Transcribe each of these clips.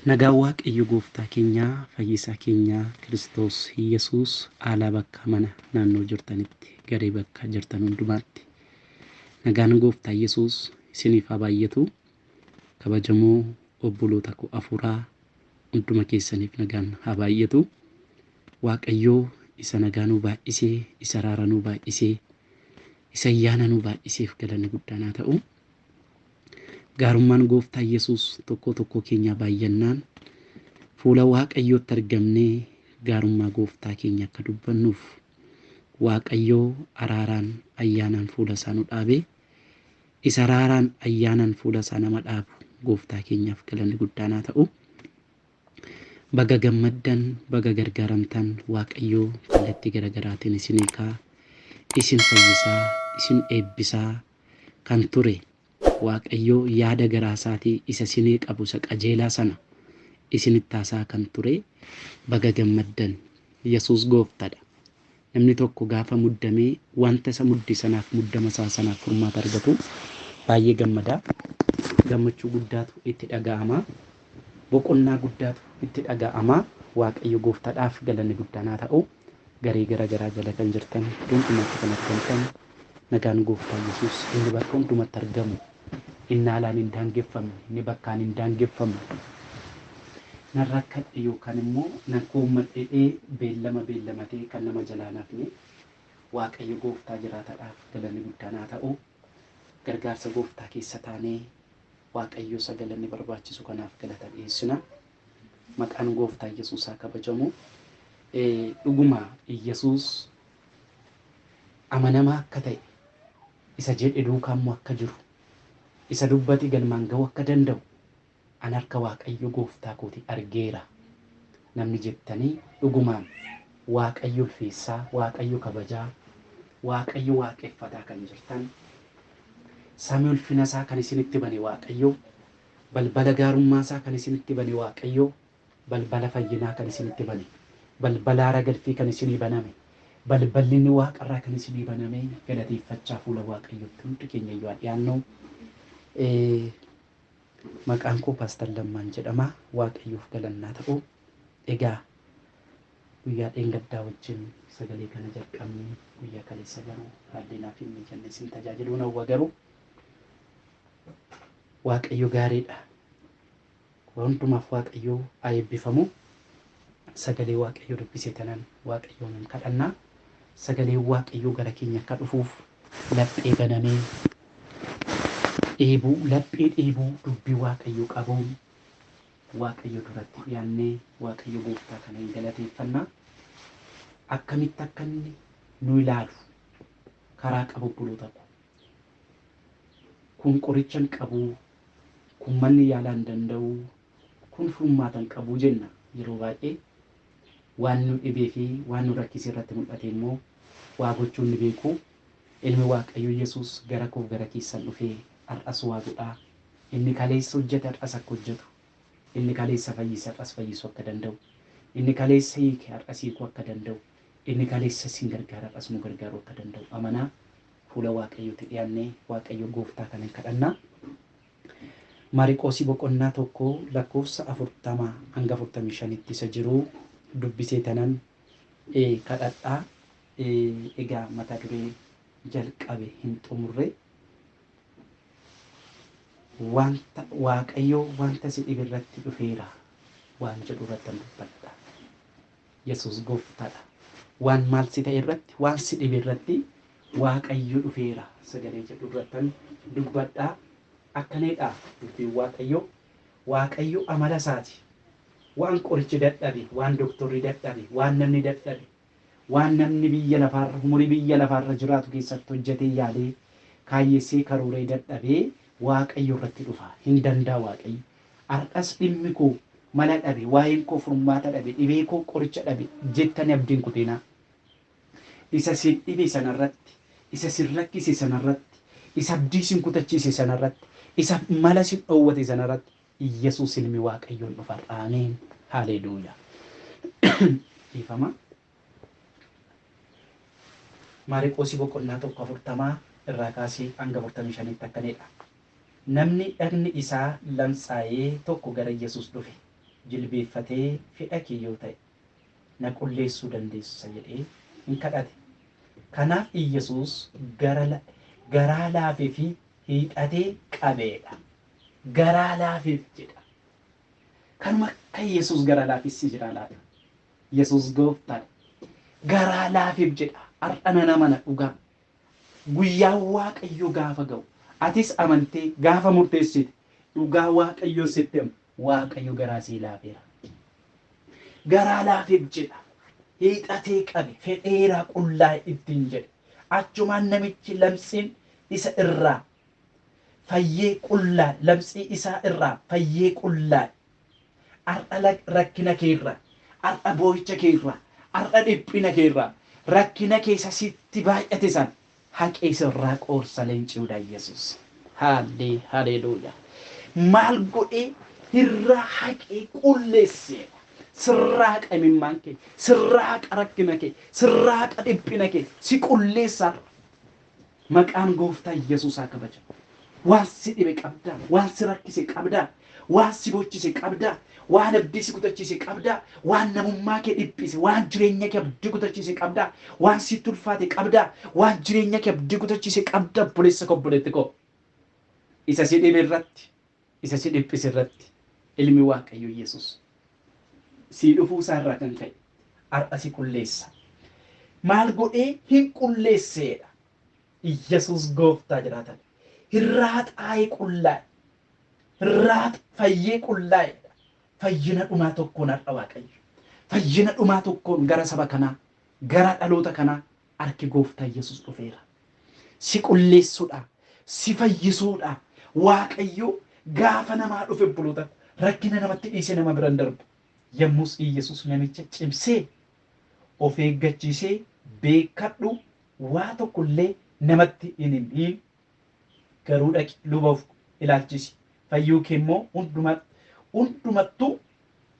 Nagaan waaqayyo gooftaa keenyaa fayyisaa keenyaa kiristoos yesuus aalaa bakkaa mana naannoo jirtanitti garee bakka jirtan hundumaatti nagaan gooftaa yesuus isiniif haa baay'atu kabajamoo obboloota koo afuuraa hunduma keessaniif nagaan haa baay'atu waaqayyoo isa nagaa nuu baay'isee isa raara nuu baay'isee isa ayyaana nuu baay'iseef galanni guddaan haa ta'u. Gaarummaan Gooftaa Yesuus tokkoo tokkoo keenyaa baay'annaan fuula Waaqayyootti argamnee gaarummaa Gooftaa keenya akka dubbannuuf Waaqayyoo araaraan ayyaanaan fuula isaa nu dhaabe. Isa araaraan ayyaanaan fuula isaa nama dhaabu Gooftaa keenyaaf galanni guddaan haa ta'u. Baga gammaddan, baga gargaaramtan Waaqayyoo kallattii garagaraatiin isin hiikaa, isin fayyisaa, isin eebbisaa. kan ture waaqayyoo yaada garaa isaatii isa sinii qabu isa qajeelaa sana isinitti haasaa kan ture baga gammaddan yesuus gooftadha namni tokko gaafa muddamee wanta isa mudde sanaaf muddama isaa sanaaf furmaata argatu baay'ee gammadaa gammachuu guddaatu itti dhaga'ama boqonnaa guddaatu itti dhaga'ama waaqayyo gooftadhaaf galanni guddaanaa ta'u Garee gara garaa jala kan jirtan iddoo hundumaatti kan argamtan nagaan gooftaa Yesuus inni bakka hundumatti argamu inni haalaan hin daangeffamne inni bakkaan hin daangeffamne nan rakkadhe yookaan immoo nan koommadhedhee beellama beellamatee kan nama jalaa hin hafne Waaqayyo gooftaa jiraataadhaaf galanni guddaan haa ta'u gargaarsa gooftaa keessa taanee Waaqayyo isa galanni barbaachisu kanaaf galata dhiheessina. Maqaan gooftaa Yesuus haa kabajamu. Dhuguma Yesuus amanamaa akka ta'e, isa jedhe duukaa immoo akka jiru, isa dubbate galmaan ga'uu akka danda'u an harka Waaqayyo gooftaa kooti argeera. namni jettanii dhugumaan Waaqayyo ulfeessaa, Waaqayyo kabajaa, Waaqayyo waaqeffataa kan jirtan, samii ulfina isaa kan isinitti bane Waaqayyo, balbala gaarummaa isaa kan isinitti bane Waaqayyo, balbala fayyinaa kan isinitti bane, balbala haara galfii kan isinii baname, balballi inni waaqa irraa kan isinii baname galateeffachaa fuula Waaqayyootti hundi keenya iyyuu haa dhiyaannu. Maqaan koo Paastar Lammaan jedhama. Waaqayyoof galanni haa ta'u. Egaa guyyaa dheengaddaa wajjin sagalee kana jalqabne guyyaa kaleessa garuu haalli naaf hin mijanne isin tajaajiluun hawwa garuu Waaqayyo gaariidha. Waa hundumaaf Waaqayyo haa eebbifamu. sagalee waaqayyoo dubbisee tanan waaqayyoonin kadhanna sagaleen waaqayyoo gara keenya akka dhufuuf laphee banamee dheebuu laphee dheebuu dubbii waaqayyoo qabuun waaqayyo duratti dhiyaannee waaqayyo gooftaa kana hin galateeffanna akkamitti akka inni nu ilaalu karaa qabu obboloota ko kun qorichan qabu kun manni yaalaa hin danda'u Kun furmaata hin qabu jenna. Yeroo baay'ee waan nu dhibee fi waan nu rakkise irratti mul'ate immoo waa gochuun ni beeku. Ilmi Waaqayyoo Yesuus gara koof gara keessan dhufee har'as waa godha. Inni kaleessa hojjete har'as akka hojjetu, inni kaleessa fayyise har'as fayyisuu akka danda'u, inni kaleessa hiike har'as hiikuu akka danda'u, inni kaleessa isin gargaare har'as nu gargaaruu akka danda'u amanaa fuula Waaqayyootti dhiyaannee Waaqayyo Gooftaa kanan kadhanna. Maariqoosii boqonnaa 1 lakkoofsa 40-45tti isa jiruu dubbisee tanan e kadhadha e egaa mata duree jalqabe hin xumurre wanta waaqayyoo wanta si dhibe irratti dhufeera waan jedhu irrattan dubbadha. Yesuus Gooftadha. Waan maal si ta'e irratti, waan si dhibe irratti Waaqayyo dhufeera sagalee jedhu irrattan dubbadha. Akkanidha dubbiin Waaqayyoo. Waaqayyo amala isaati. Waan qorichi dadhabe, waan doktorri dadhabe, waan namni dadhabe, waan namni biyya lafaarra, umurii biyya lafaarra jiraatu keessatti hojjetee yaadee, kaayyessee karooree dadhabee Waaqayyo irratti dhufa. Hin danda'a Waaqayyo. Har'as dhimmi koo mala dhabe, waa'een koo furmaata dhabe, dhibee koo qoricha dhabe jettanii abdii hin kutinaa. Isa isin dhibe sana irratti, isa isin rakkise sana irratti, isa abdii isin kutachiise sana irratti, isa mala isin dhoowwate sana irratti Iyyasuus Ilmi Waaqayyoo in dhufa har'a. Ameen! Haaleeluuyaa! Dhiifama. Maariqoosii boqonnaa 1 40 irraa kaasii hanga 45tti akkaniidha. Namni dhagni isaa lamtsaayee tokko gara Yesuus dhufe, jilbeeffatee fedha kee yoo ta'e, na qulleessuu dandeessa jedhee in kadhate. Kanaaf Iyyasuus gara garaa laafee fi hiixatee qabeedha. Garaa laafeef jedha. Kanuma akka Yesuus gara laafessi jira laata? Yesuus gooftaadha. Garaa laafeef jedha. Har'a nan amana dhugaa. Guyyaan Waaqayyoo gaafa ga'u atis amantee gaafa murteessite dhugaa Waaqayyoon sitti hima Waaqayyo garaa sii laafeera. Garaa laafeef jedha. Hiixatee qabe fedheeraa qullaa'e ittiin jedhe. Achumaan namichi lamsiin isa irraa fayyee qullaa'e labsii isaa irraa fayyee qullaa'e har'a rakkina kee irraa har'a boo'icha kee irraa har'a dhiphina kee irraa rakkina kee isa sitti baay'ate san haqee sirraa qoorsa leenciudha Yesuus. Haallee haleeluuyaa. Maal godhee irraa haqee qulleesseedha. Sirraa qimimmaan kee, sirraa qarakkina kee, sirraa qadhiphina kee si qulleessaadha. Maqaan gooftaa Yesuus haa kabajamu. Waan si dhibe qabdaa? Waan si rakkise qabdaa? Waan si bochise qabdaa? Waan abdii si kutachiise qabdaa? Waan namummaa kee dhiphise, waan jireenya kee abdii kutachiise qabdaa? Waan sitti ulfaate qabdaa? Waan jireenya kee abdii kutachiise qabdaa? Obboleessa koo, obboleetti koo. Isa si dhibe irratti isa si dhiphise irratti Ilmi Waaqayyoo Yesus sii dhufuu isaa irraa kan ka'e har'a si qulleessa. Maal godhee hin qulleesseedha. Yesus gooftaa jiraatan. Hirraa xaa'ee qullaa'e. Hirraa fayyee qullaa'eedha. Fayyina dhumaa tokkoon har'a Waaqayyo. Fayyina dhumaa tokkoon gara saba kanaa, gara dhaloota kanaa Arki gooftaa yesus dhufeera. Si qulleessudha. Si fayyisuudha. Waaqayyo gaafa namaa dhufe obboloota ko rakkina namatti dhiise nama biran darbu. Yommus Iyyasuus namicha cimsee of eeggachiisee beekkadhu waa tokko illee namatti hin himiin Garuu dhaqi, luba of ilaalchisi, fayyuu kee immoo hunduma, hundumattuu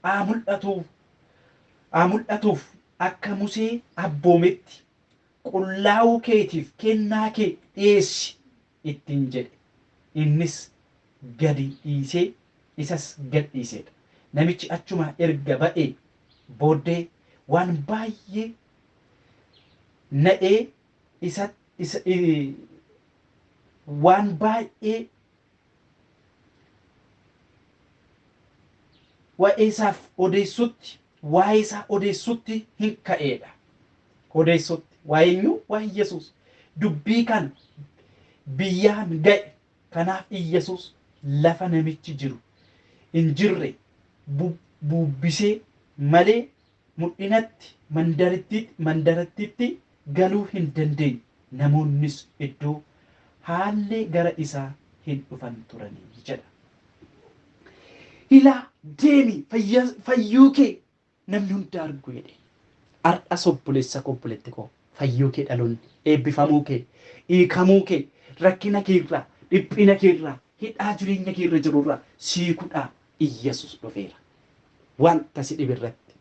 haa mul'atu, haa mul'atuuf, akka Musee abboometti qullaa'uu keetiif kennaa kee dhi'eessi ittiin jedhe. Innis gadi dhiisee, isas gad dhiise dha. Namichi achumaa erga ba'ee booddee waan baay'ee na'ee isa isa waan baay'ee waa'ee isaaf odeessutti waa'ee isaa odeessutti hin ka'eedha. Odeessutti waa'ee eenyu waa'ee Yesuus dubbii kan biyyaan ga'e kanaaf Yesuus lafa namichi jiru hin jirre bubbisee malee Mul'inatti mandarittiitti, mandarattiitti galuu hin dandeenye, namoonnis iddoo haallee gara isaa hin dhufan turanii jedha. Ilaa, deemi, fayya, fayyuu kee namni hundi argu jedheen. Har'as obboleessa koo, obboleetti koo, fayyuu kee dhaloonni, eebbifamuu kee, hiikamuu kee, rakkina kee irraa, dhiphina kee irraa, hidhaa jireenya kee irra jiru irraa si hiikudhaa Iyyesuus dhufeera. Wanta si dhibe irratti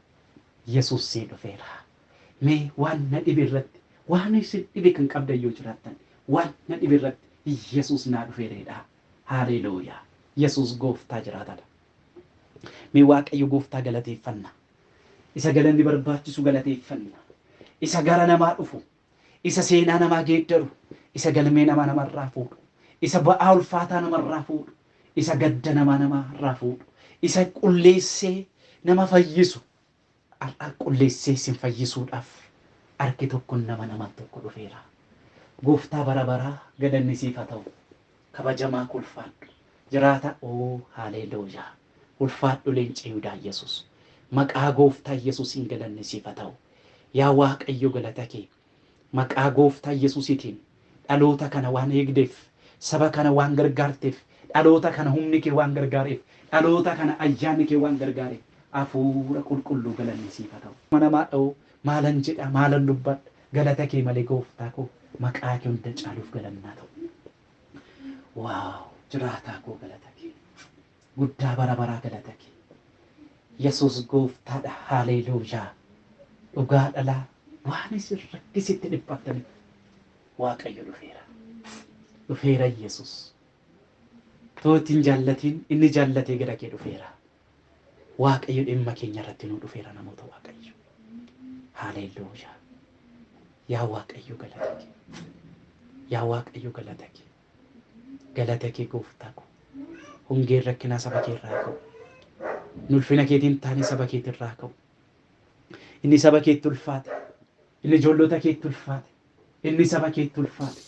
Yesuus sii dhufeera. Mee waan na dhibe irratti waan isin dhibe kan qabdan yoo jiraattan waan na dhibe irratti Iyyesuus naa dhufeera jedhaa. Haaleeluuyaa! Yesuus gooftaa jiraataadha. Mee Waaqayyo gooftaa galateeffanna. Isa galanni barbaachisu galateeffanna. Isa gara namaa dhufu isa seenaa namaa geeddaru, isa galmee namaa namarraa fuudhu, isa ba'aa ulfaataa namarraa fuudhu, isa gadda namaa namaarraa fuudhu, isa qulleessee nama fayyisu, har'a qulleessee isin fayyisuudhaaf harki tokko nama naman tokko dhufeera. Gooftaa bara baraa galanni siif haa ta'u. Kabajamaa koo ulfaadhu. Jiraata oo haaleeluuyaa. Ulfaadhu leenca Yihudaa Yesuus. Maqaa gooftaa Yesuusiin galanni siif haa ta'u. Yaa Waaqayyo galata kee maqaa gooftaa Yesuusiitiin dhaloota kana waan eegdeef, saba kana waan gargaarteef, dhaloota kana humni kee waan gargaareef, dhaloota kana ayyaanni kee waan gargaareef Hafuura Qulqulluu galanni siif haa ta'u. Ilma namaa dha'oo maalan jedha, maalan dubbadha galata kee malee gooftaa koo maqaa kee hunda caaluuf galanni haa ta'u. Wow jiraataa koo galata kee. guddaa bara baraa galata kee yesuus gooftaadha haaleeluuyaa dhugaa dhalaa waan isin rakkisitti dhiphattaniif waaqayyo dhufeera dhufeera yesuus too ittiin jaallatiin inni jaallatee gara kee dhufeera waaqayyo dhimma keenya irratti nuu dhufeera namoota waaqayyo haaleeluuyaa yaa waaqayyo galata kee yaa waaqayyo galata kee Galata kee gooftaa ko. Hongeen rakkinaa saba kee irraa ka'u. Inni ulfina keetiin taane saba keetii irraa ka'u. Inni saba keetti ulfaate. Inni ijoollota keetti ulfaate. Inni saba keetti ulfaate.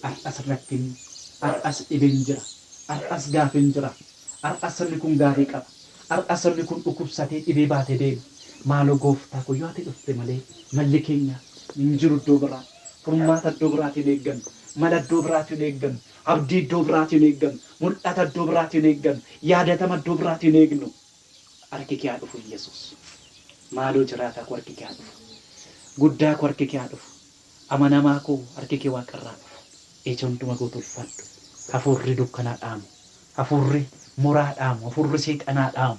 Har'as rakkinni, har'as dhibeen jira, har'as gaafiin jira, har'as sabni kun gaafii qaba, har'as sabni kun dhukubsatee dhibee baate deema. Maaloo gooftaa ko yoo ati dhufte malee malli keenya hin jiru iddoo biraa. Furmaata iddoo biraatii hin eeggannu. Mala iddoo biraatii hin eeggannu. Abdii iddoo biraatii hin eeggannu. Mul'ata iddoo biraatii hin eeggannu. Yaadatama iddoo biraatii hin eegnu. Harki kee haa dhufu Iyyesuus. Maaloo jiraataa koo harki kee haa dhufu. Guddaa koo harki kee haa dhufu. Amanamaa koo harki kee waaqa irraa haa dhufu. Ija hunduma goote ulfaadhu. Hafuurri dukkanaa dhaamu. Hafuurri muraa dhaamu. Hafuurri seexanaa dhaamu.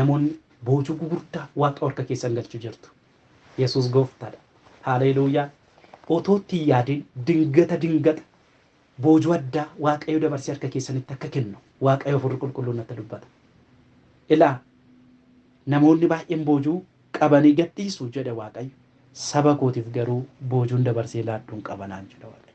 Namoonni boojuu gugurdaa waaqa warka keessan galchu jirtu. Yesuus gooftaadha. Haaleeluuyaa! Otoo itti hin yaadin dingata dingata boojuu addaa waaqayyo dabarsee harka keessanitti akka kennu waaqayyo hafuurri qulqulluun natti dubbata. Ilaa! Namoonni baay'een boojuu qabanii gad dhiisu jedhe waaqayyo. Saba kootiif garuu boojuun dabarsee laadhuun qaba naan jedha waaqayyo.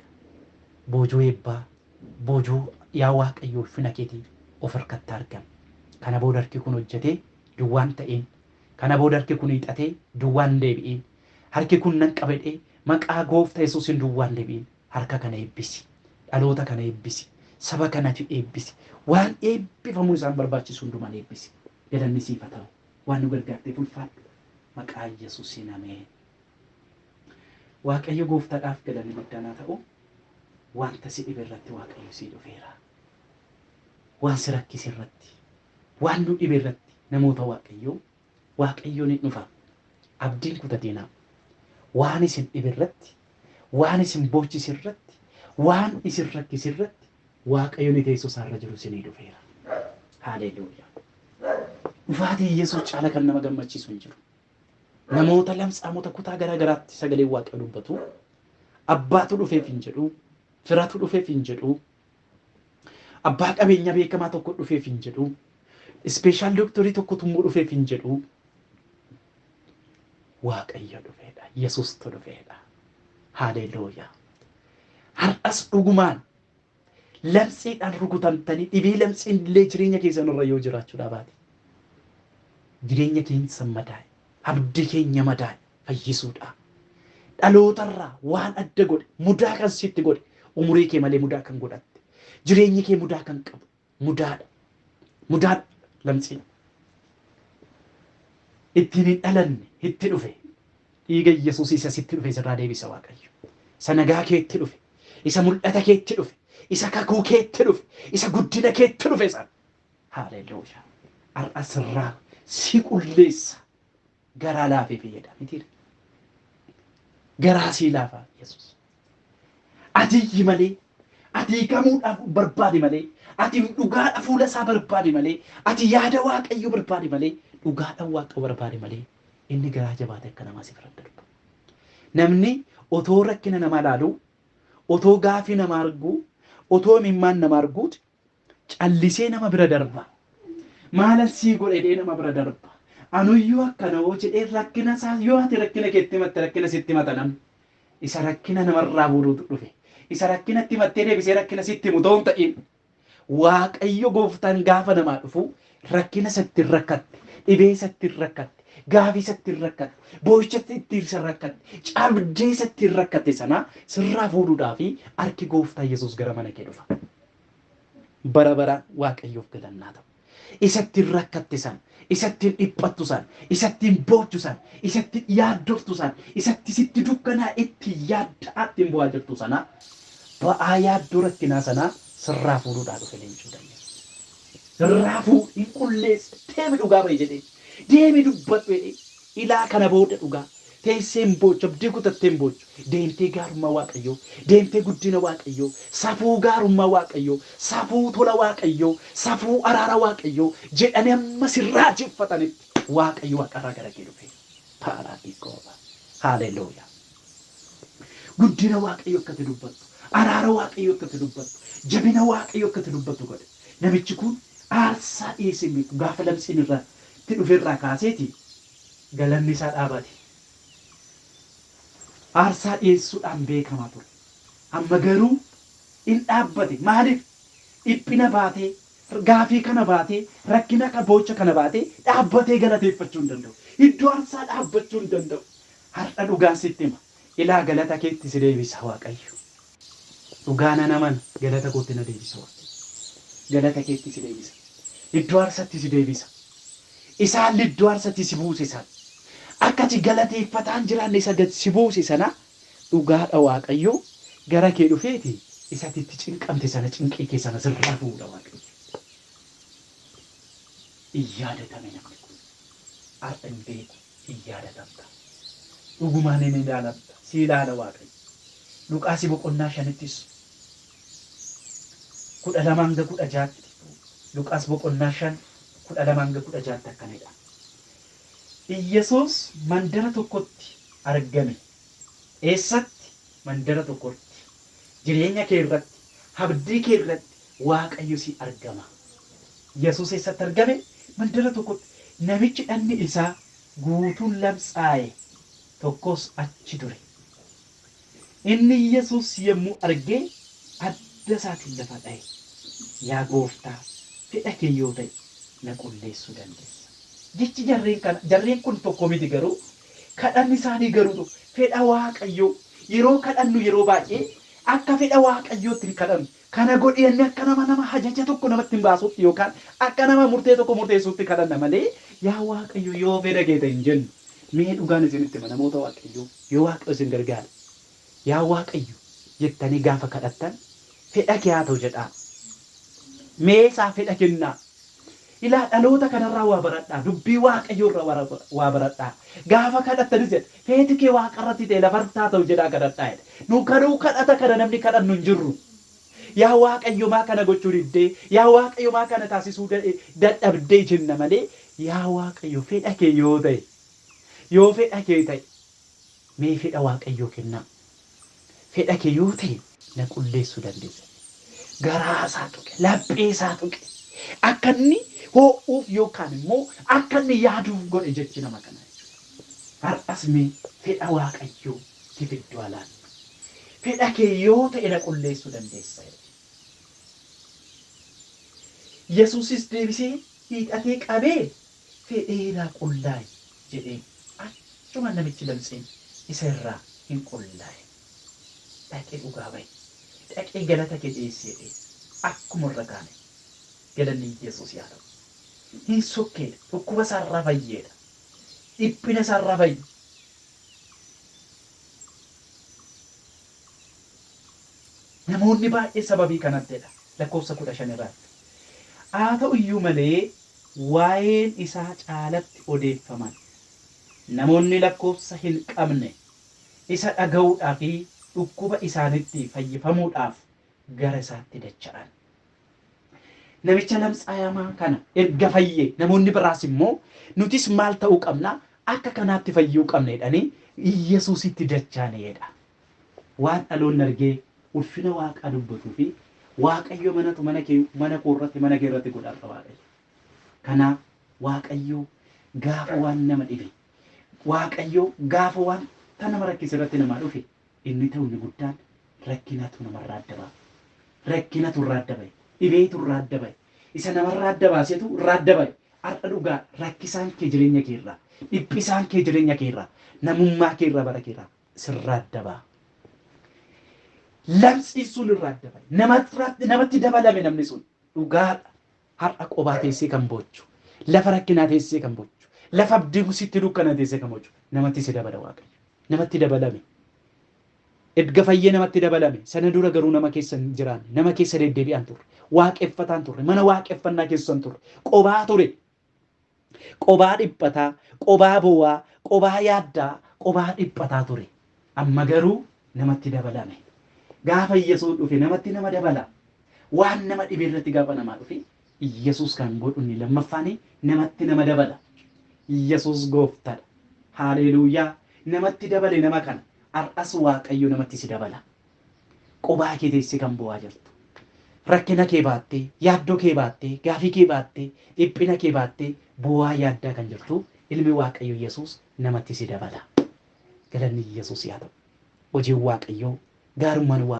Boojuu eebbaa, boojuu yaa Waaqayyo ulfina keetii of harkatti argan. Kana booda harki kun hojjetee duwwaa hin ta'iin. Kana booda harki kun hiixatee duwwaa hin deebi'iin. Harki kun nan qaba jedhee maqaa goofta Yesuusiin duwwaa hin deebi'iin. Harka kana eebbisi. Dhaloota kana eebbisi. Saba kanati eebbisi. Waan eebbifamuun isaan barbaachisu hundumaan eebbisi. Galanni siif haa ta'u. Waan nu gargaarteef ulfaadhu. Maqaa Yesuusiin ameen. Waaqayyo gooftadhaaf galanni guddaan haa ta'u wanta si dhibe irratti Waaqayyo sii dhufeera. Waan si rakkise irratti, waan nu dhibe irratti namoota Waaqayyoo Waaqayyoon hin dhufa. Abdiin kutatinaa. Waan isin dhibe irratti, waan isin boochise irratti, waan isin rakkise irratti Waaqayyo inni teessoo isaa irra jiru isinii dhufeera. Haaleeluuyaa. Dhufaatii Yesuus caala kan nama gammachiisu hin jiru. Namoota lamtsaamota kutaa garaa garaatti sagaleen Waaqayyo dubbatu. Abbaatu dhufeef hin jedhu. Firatu dhufeef hin jedhu. Abbaa qabeenyaa beekamaa tokko dhufeef hin jedhu. Ispeeshaal dooktorii tokkotu immoo dhufeef hin jedhu. Waaqayyo dhufeedha. Yesuustu dhufeedha. Haaleeluuyaa. Har'as dhugumaan Lamtsiidhaan rukutamtanii dhibee lamtsiin illee jireenya keessan irra yoo jiraachudhaa baate jireenya keenysan madaa'e abdii keenya madaa'e fayyisuudhaa dhalootarraa waan adda godhe mudaa kan sitti godhe umurii kee malee mudaa kan godhatte jireenyi kee mudaa kan qabu mudaadha. Mudaadha lamtsiin. Ittiin hin dhalanne hitti dhufe. Dhiiga Iyyasuusii isa sitti dhufe sirraa deebisa Waaqayyo. Isa nagaa keetti dhufe. Isa mul'ata keetti dhufe. Isa kakuu keetti dhufe. Isa guddina keetti dhufe sana. Haaleluuyaa. Har'a sirraa si qulleessa. garaa laafee fayyada mitiire garaa sii laafaa yesus ati iyyi malee ati hiikamuudhaaf barbaadi malee ati dhugaadha fuula isaa barbaadi malee ati yaada waaqayyo barbaadi malee dhugaadhaan waaqayyo barbaadi malee inni garaa jabaate akka namaa si bira hin darbu. Namni otoo rakkina namaa laaluu otoo gaafii namaa arguu otoo imimmaan namaa arguuti Callisee nama bira darba. Maalan sii godhe jedhee nama bira darba. Anuyyuu akkana hoo jedhee rakkina isaa yoo ati rakkina keetti himatte rakkina sitti himata namni. Isa rakkina namarraa fuudhuutu dhufe. Isa rakkinatti himattee deebisee rakkina sitti himu otoo hin ta'iin Waaqayyo gooftaan gaafa namaa dhufu rakkina isa ittiin rakkatte, dhibee isa ittiin rakkatte, gaafii isa ittiin rakkatte, boo'icha ittiin isa rakkatte, cabdee isa ittiin rakkatte sana sirraa fuudhuudhaaf harki gooftaa Yesuus gara mana kee dhufa. bara baraan Waaqayyoof galanni haa ta'u. Isa ittiin rakkatte sana, isa ittiin dhiphattu sana, isa ittiin boochu sana, isa ittiin yaaddoftu sana, isa itti sitti dukkanaa itti yaadda'aa ittiin bu'aa jirtu sana, ba'aa yaaddoo rakkinaa sanaa sirraa fuudhuudhaa dhufe leenci muda Yesuus. Irraa fuudhi, qulleessi, deemi dhugaa ba'i jedheen. Deemi dubbadhu jedheen. Ilaa kana booda dhugaa. Teessee hin boochu, abdii kutattee hin boochu. Deemtee gaarummaa Waaqayyoo, deemtee guddina Waaqayyoo, safuu gaarummaa Waaqayyoo, safuu tola Waaqayyoo, safuu araara Waaqayyoo jedhanii amma si raajeffatanitti Waaqayyo waaqa irraa gara kee dhufee. Paaraadikoova. Haaleluyah. Guddina Waaqayyoo akka ati dubbattu, araara Waaqayyoo akka ati dubbattu, jabina Waaqayyoo akka ati dubbattu godhe. Namichi kun aarsaa dhiyeessee hin beeku. Gaafa labsiin irra tti dhufe irraa kaasee ti galanni isaa dhaabate. Aarsaa dhiyeessuudhaan beekama ture. Amma garuu in dhaabbate. Maaliif? Dhiphina baatee, gaafii kana baatee, rakkina ka, boocha kana baatee dhaabbatee galateeffachuu hin danda'u. Iddoo aarsaa dhaabbachuu hin danda'u. Har'a dhugaan sitti hima. Ilaa galata keetti si deebisa Waaqayyo. Dhugaa nan amana, galata kootti na deebisa Waaqni. Galata keetti si deebisa. Iddoo aarsatti si deebisa. Isa haalli iddoo aarsatti si buuse sana, akka ati galateeffataa hin jiraanne isa gad si buuse sana, dhugaa dha Waaqayyo gara kee dhufee ti isa ati itti cinqamte sana, cinqii kee sana sirraa fu'uu dha Waaqayyo. Hin yaadatame namni kun. Har'a hin beeku. in yaadatamta. Dhugumaan in ilaalamta, si ilaala Waaqayyo. Luqaasi boqonnaa shanittis 12-16tti, Luqaas boqonnaa 5 12-16tti akkana jedha. Iyyasuus mandara tokkotti argame. Eessatti? mandara tokko irratti, jireenya kee irratti, habdii kee irratti Waaqayyo si argama. Yesuus eessatti argame? Mandara tokkotti. Namichi dhagni isaa guutuun lamsaaye tokkos achi ture. Inni Yesuus yommuu arge adda isaatiin lafa dhaye. Yaa Gooftaa, fedha kee yoo ta'e na qulleessuu dandeessa. Jechi jarreen kana, jarreen kun tokko miti garuu Kadhanni isaanii garuu tokko. Fedha Waaqayyoo. Yeroo kadhannu yeroo baay'ee akka fedha Waaqayyootti hin kadhannu. Kana godhi jennee akka nama nama ajaja tokko namatti hin baasuutti yookaan akka nama murtee tokko murteessuutti kadhanna malee yaa Waaqayyo yoo fedha kee ta'e hin jennu. Mee dhugaan isinitti hima namoota Waaqayyoo. Yoo Waaqayyo isin gargaare Yaa Waaqayyo jettanii gaafa kadhattan fedha kee haa ta'u jedhaa. Mee isaaf fedha kennaa. Ilaa dhaloota kanarraa waa baradhaa. Dubbii Waaqayyoo irraa wara- waa baradhaa. Gaafa kadhattanis jedha feeti kee waaqa irratti ta'e lafarratti haa ta'u jedhaa kadhadhaa jedha. Nu kadhuu kadhata kana namni kadhannu hin jirru. Yaa Waaqayyo maa kana gochuu diddee? Yaa Waaqayyo maa kana taasisuu da- dadhabdee jenna malee yaa Waaqayyo fedha kee yoo ta'e yoo fedha kee ta'e Mee fedha Waaqayyoo kennaa. Fedha kee yoo ta'e na qulleessuu dandeessa. Garaa isaa tuqe, laphee isaa tuqe. Akka inni hoo'uuf yookaan immoo akka inni yaaduuf godhe jechi nama kanaa jechuudha. Har'as mee fedha Waaqayyoo tiif iddoo haa laannu. Fedha kee yoo ta'e na qulleessuu dandeessa jedhe. Yesuusis deebisee hiixatee qabee. fedheeraa qullaa'i jedheen. Achumaan namichi lamxiin isa irraa hin qullaa'e. Dhaqee dhugaa ba'e. Dhaqee galata kee dhiyeessi jedheen. Akkuma irra kaane. Galanni Yesuus yaa ta'u. Hin sokkeedha. Dhukkuba isaa irraa fayyeedha. Dhiphina isaa irraa fayye. Namoonni baay'een sababii kanattidha. Lakkoofsa 15 irraatti. Haa ta'u iyyuu malee waa'een isaa caalatti odeeffaman namoonni lakkoofsa hin qabne isa dhaga'uudhaa fi dhukkuba isaanitti fayyifamuudhaaf gara isaatti dacha'an. Namicha lamtsaayamaa kana erga fayye namoonni biraas immoo nutis maal ta'uu qabna akka kanaatti fayyuu qabna jedhanii Iyyasuusitti dacha'an jedha. Waan dhaloonni argee ulfina Waaqaa dubbatuu fi Waaqayyo manatu mana kee mana koo irratti mana kee irratti godha har'a Waaqayyo. Kanaaf Waaqayyo gaafa waan nama dhibe Waaqayyo gaafa waan ta nama rakkise irratti namaa dhufe inni ta'u inni guddaan rakkinatu namarraa adda ba'a. Rakkinatu irraa adda ba'e. Dhibeetu irraa adda ba'e. Isa namarraa adda baasetu irraa adda ba'e. Har'a dhugaa rakkisaan kee jireenya kee irraa dhiphisaan kee jireenya kee irraa namummaa kee irraa bara kee irraa sirraa adda ba'a. Lamsiin sun irraa adda ba'a. Namarratti namatti dabalame namni sun dhugaadha. Har'a qobaa teessee kan boochu, lafa rakkinaa teessee kan boochu, lafa abdiin sitti dukkana teessee kan boochu namatti si dabala Waaqayyo. Namatti dabalame. Erga fayyee namatti dabalame. Sana dura garuu nama keessa hin jiraanne. Nama keessa deddeebi'aan turre. Waaqeffataan turre. Mana waaqeffannaa keessan turre. Qobaa ture. Qobaa dhiphataa, qobaa bowaa, qobaa yaaddaa, qobaa dhiphataa ture. Amma garuu namatti dabalame. Gaafa Iyyasuus dhufe namatti nama dabala. Waan nama dhibe irratti gaafa namaa dhufe Iyyasuus kan godhu inni lammaffaani namatti nama dabala. Iyyasuus gooftadha. Haaleeluuyaa! Namatti dabale nama kana. Har'as Waaqayyo namatti si dabala. Qobaa kee teessee kan boo'aa jirtu. Rakkina kee baattee, yaaddoo kee baattee, gaafii kee baattee, dhiphina kee baattee boo'aa yaaddaa kan jirtu ilmi Waaqayyoo Yesuus namatti si dabala. Galanni Yesuus yaa ta'u. Hojiin Waaqayyoo, gaarummaan Waaqayyoo.